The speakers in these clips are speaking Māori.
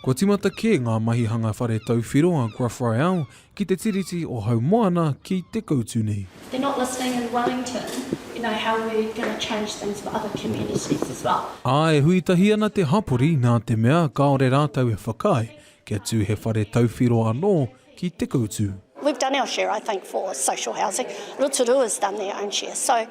Kua timata kē ngā mahi hanga whare tauwhiro a Gruff Royale ki te Tiriti o Haumoana ki te koutu nei. They're not listening in Wellington, you know, how are we going to change things for other communities as well? Ā, e hui tahi ana te hapori nā te mea kāore rātou e whakaae kia tū he whare tauwhiro anō ki te koutu. We've done our share I think for social housing, Rotorua has done their own share so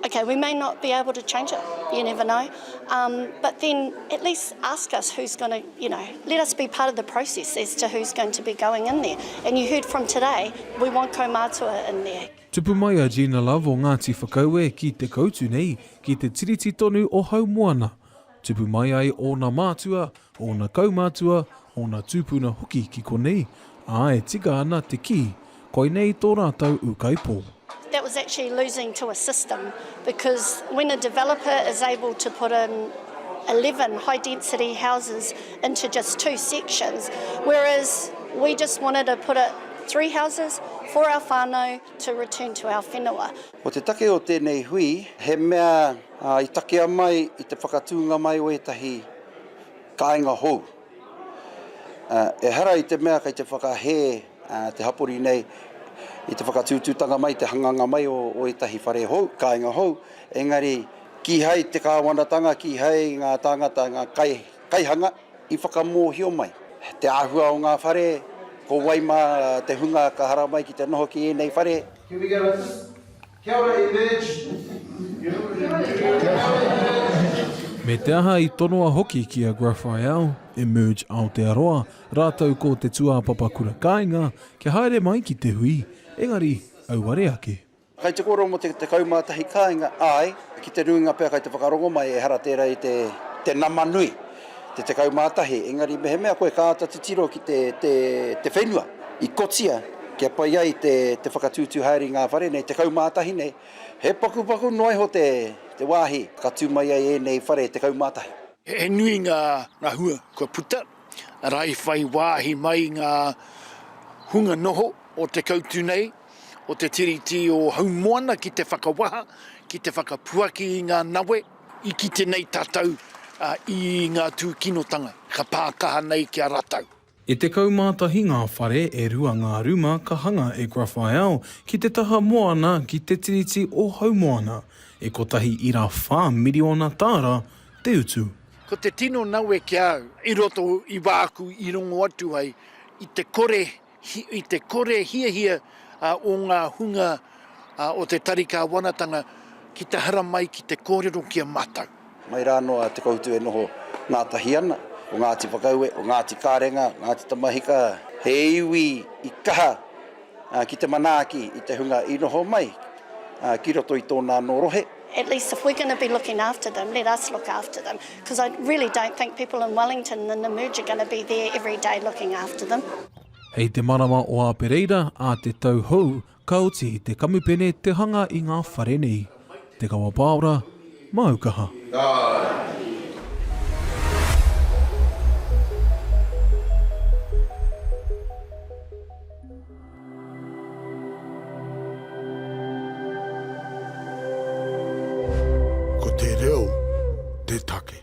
okay we may not be able to change it, you never know um but then at least ask us who's going to you know let us be part of the process as to who's going to be going in there and you heard from today we want kaumātua in there. Tupu mai a Gina Love o Ngāti Whakaue ki te koutu nei ki te Tiriti tonu o Haumoana. Tupu mai ai ōna mātua, ōna kaumātua, ōna tūpuna hoki ki konei, ā, e tika ana te kī, koinei tō rātou ūkaipō. That was actually losing to a system because when a developer is able to put in 11 high density houses into just two sections, whereas we just wanted to put it three houses for our whānau to return to our whenua. Ko te take o tēnei hui, he mea i takea mai i te whakatūnga mai o ētahi kāinga hou. Ehara i te mea kei te whakahē te hapori nei i te whakatūtūtanga mai, te hanganga mai o ētahi whare hou, kāinga hou, engari kīhai te kāwanatanga, kīhai ngā tāngata, ngā kaihanga i whakamōhio mai te āhua o ngā whare, ko wai mā te hunga ka haramai ki te noho ki ēnei whare. Can we go like this? Kia ora e Merge! Kia ora e Merge! Me te aha i tonoa hoki ki a Graphial, Emerge Aotearoa, rātou ko te tūāpapa kura kāinga, kia haere mai ki te hui, engari, auare ake. Kai te kōrero mō te 11 kāinga, āe, ki te nuinga pea kai te whakarongo mai, ehara tērā i te nama nui. Te tekau mā tahi, engari mehemea koe ka āta titiro ki te, te, te whenua i kotia kia pai ai te, te whakatūtū haere i ngā whare nei tekau mā tahi nei, he pakupaku noa iho te, te wāhi ka tū mai ai ēnei whare tekau mā tahi. He nui ngā, ngā hua kua puta, arā i whai wāhi mai ngā hunga noho o te kautu nei, o te Tiriti o Haumoana ki te whakawaha, ki te whakapuaki i ngā nawe, I kite nei tātou i ngā tūkinotanga ka pā kaha nei ki a rātou. E tekau mā tahi ngā whare, e rua ngā ruma ka hanga e Grafael ki te taha moana ki te tiriti o Haumoana. E kotahi ira whā miriona tāra te utu. Ko te tino nawe ki a au, i roto i wāku i rongo atu ai i te kore I te kore hiahia o ngā hunga o te Tari Kāwanatanga ki te haramai ki te kōrero ki a mātou. Mai rā anō a Te Koutu e noho ngātahi ana, o Ngāti Whakaue, o Ngāti Karenga, Ngāti Tamahika, he iwi i kaha ki te manaaki i te hunga i noho mai ki roto i tōna anō rohe. At least if we're going to be looking after them, let us look after them, because I really don't think people in Wellington and in the merge are going to be there every day looking after them. Hei te marama o Āpereira ā te tau hou ka oti te kamupene te hanga i ngā whare nei. Te Kawa Pāora, māu kaha. Ko te reo te take.